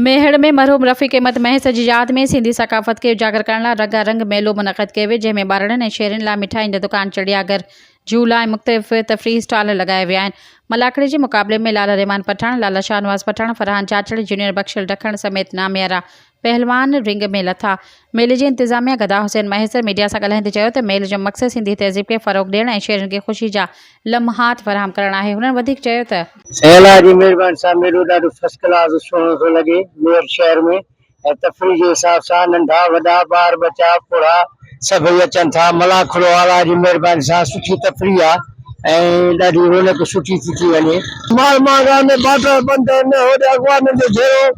ميهڙ ۾ مرحوم رفيق احمد مهيسر جي ياد ۾ سنڌي ثقافت کي اجاگر ڪرڻ لاء رنگا رنگ ميلو منعقد ڪيو ويو جنهن ۾ ٻارڙن ۽ شهرين لاء مٺاين جا دڪان چڙيا گهر جهولا ۽ مختلف تفريحي اسٽال لڳايا ويا آهن ملاکڙي جي مقابلي ۾ لالا رحمان پٺاڻ لالا شاهنواز پٺاڻ فرحان چاچڙ جونيئر بخشل ڊکڻ سميت ناميارا پهلوان رنگ ۾ لٿا ميلي جي انتظاميا گدا حسين مهيسر ميڊيا سان ڳالهائيندي چيو ته ميل جو مقصد سنڌي تهذيب کي فروغ ڏيڻ ۽ شهرين کي خوشي جا لمحات فراهم ڪرڻ آهي هنن وڌيڪ چيو ته. سائين الله جي مهرباني سان ميلو ڏاڍو فرسٽ ڪلاس سهڻو ٿو لڳي ميرٺ شهر ۾ ۽ تفريح جي حساب سان ننڍا وڏا ٻار ٻچا پوڙها سڀئي اچن ٿا ملان کلو الله جي مهرباني سان سٺي تفريح آ ۽ ڏاڍي رونق سٺي ٿي ٿي وڃي. مال ماغان ۾ باٽا بند آهن هوڏي اغوانن جو جهيڙو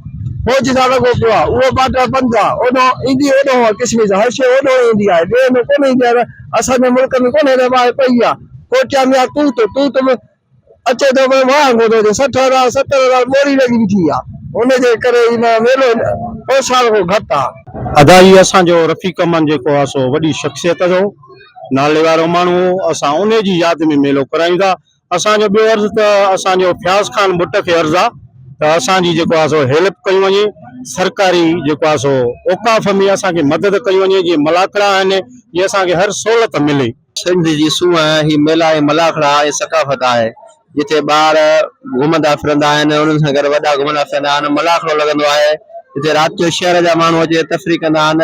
فوج سان لڳو پيو آهي اهو باٽا بند آهي اوڏانهن ايندي اوڏانهن آهي ڪشمير سان هر شيء اوڏانهن ايندي آهي ٻئي هنڌ ڪونه ايندي آهي اسان جي ملڪ ۾ ڪونه رهي ٻاهر پئي آهي ڪوٽيا ميان ٽوٽ ٽوٽ ۾ اچي ٿو پر واهه ڪونه اچي سٺ هزار ستر هزار ٻوري لڳي بيٺي آ ان جي ڪري هي ميلو اوسان کان گهٽ آ. ادا هي اسان جو رفيق امن جيڪو آ سو وڏي شخصيت جو ناليوارو ماڻهو هو اسان انهي جي ياد ۾ ميلو ڪرايون ٿا اسان جو ٻيو عرض ته اسان جو فياض خان ٻٽ کي عرض آ ته اسان جي جيڪو آ سو هيلپ ڪيون وڃي سرڪاري جيڪو آ سو اوقاف ۾ اسان کي مدد ڪيون وڃي جي ملاکڙا آهن جي اسان کي هر سهولت ملي. سنڌ جي سونهن هي ميلا ۽ ملاکڙا ۽ ثقافت آهي جتي ٻار گهمندا ڦرندا آهن ۽ انهن سان گڏ وڏا گهمندا ڦرندا آهن ملاکڙو لڳندو آهي جتي رات جو شهر جا ماڻهو اچي تفريح ڪندا آهن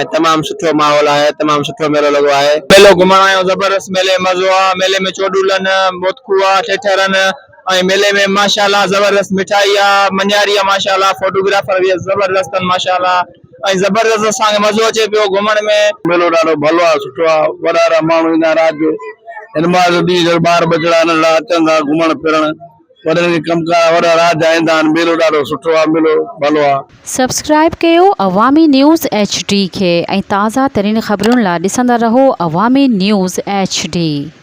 ۽ تمام سٺو ماحول آهي تمام سٺو ميلو لڳو آهي. ميلو گهمڻ آيو زبردست ميلي ۾ مزو آ ميلي ۾ چوڏولن موتڪو آ ٺيٺرن ۽ ميلي ۾ ماشاءالله زبردست مٺائي آ مڃاري آ ماشاءالله فوٽوگرافر به زبردست آهن ماشاءالله. ۽ زبردست اسان کي مزو اچي پيو گهمڻ ۾. ميلو ڏاڍو ڀلو آ سٺو آ وڏارا ماڻهو ايندا آهن رات جو هن ماهه جو ڏينهن جڏهن ٻار ٻچڙا ننڍڙا اچن ٿا گهمڻ ڦرڻ وڏن کي ڪم ڪار آ وڏا رات جا ايندا آهن ميلو ڏاڍو سٺو آ ميلو ڀلو آ. سبسڪرائب ڪيو عوامي نيوز ايڇ ڊي کي ۽ تازه ترين خبرن لا ڏسندا رهو عوامي نيوز ايڇ ڊي.